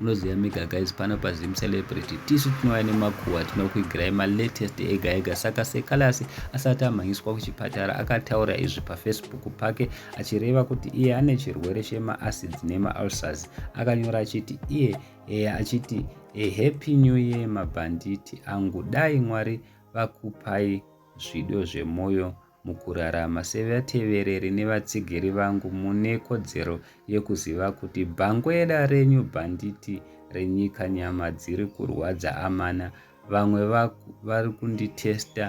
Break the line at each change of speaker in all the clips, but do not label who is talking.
munoziva mega guys pano pazim celebrity tisu tinouya nemakuhwa tinokuigirai malatest ega ega saka sekalasi asati amhanyiswa kuchipatara akataura izvi pafacebook pake achireva kuti iye ane chirwere chemaacids nemaalsars akanyora achiti iye e, achiti e, happy new year mabhanditi angu dai mwari vakupai zvido zvemwoyo Mukurarama sevatevereri nevatsigiri vangu mune kodzero yekuziva kuti bhangweda renyu bhanditi renyika nyama dziri kurwadza amana vamwe vari kunditesta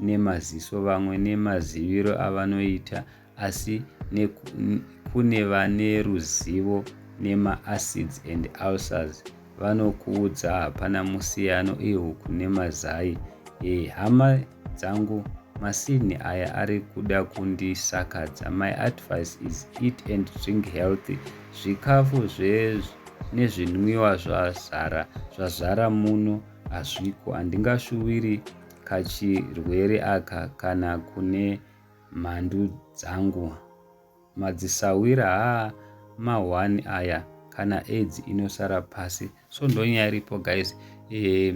nemaziso vamwe nemaziviro avanoita asi kune vane ruzivo nemaacids and ulcers vanokuudza hapana musiyano ihuku nemazai eh hama dzangu masinhi aya ari kuda kundisakadza my advice is eat and drink healthy zvikafu nezvinwiwa zvazara zvazara muno hazviko handingashuviri kachirwere aka kana kune mhandu dzangu Madzisahwira haa ma one aya kana aids inosara pasi so ndonyaya iripo guys eh,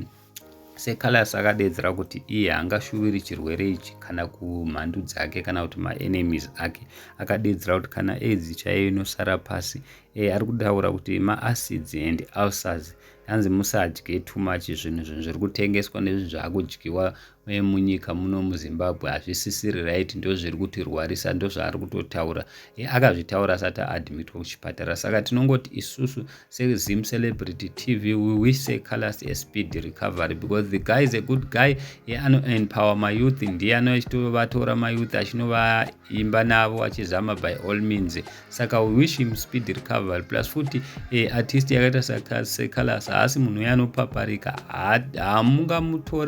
secalus akadeedzera kuti iye hangashuviri chirwere ichi kana kumhandu dzake kana kuti maenemies ake akadeedzera kuti kana aids chaiyo inosara pasi eh, ari kutaura kuti maacids and ulcers hanzi musadye too much zvinhu zvinhu zviri kutengeswa nezvinhu zvaakudyiwa uye munyika muno muzimbabwe hazvisisiri right ndo zviri kutirwarisa ndo zvaari kutotaura e akazvitaura asati aadmitwa kuchipatara saka tinongoti isusu sezim celebrity tv we wish secalas espd recovery because the guy is a good guy ye anoempower mayouth ndiye anochitovatora mayouth achinovaita imba navo achizama by all means saka we wish him speed recovery plus futi e, artist yakaita sekalas haasi munhu uye anopaparika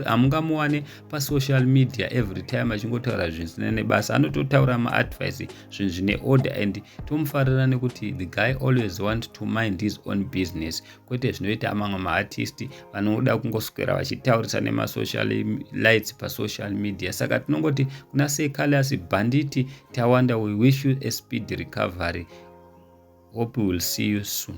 hamungamuwane pasocial media every time achingotaura zvinhu zvisina nebasa anototaura maadvice zvinhu zvine order and tomufarira nekuti the guy always want to mind his own business kwete zvinoita mamwe maartisti vanoda kungoswera vachitaurisa nemasocial lights pasocial media saka tinongoti kuna sei calias bhanditi tawanda we wish you a speed recovery hope will see you soon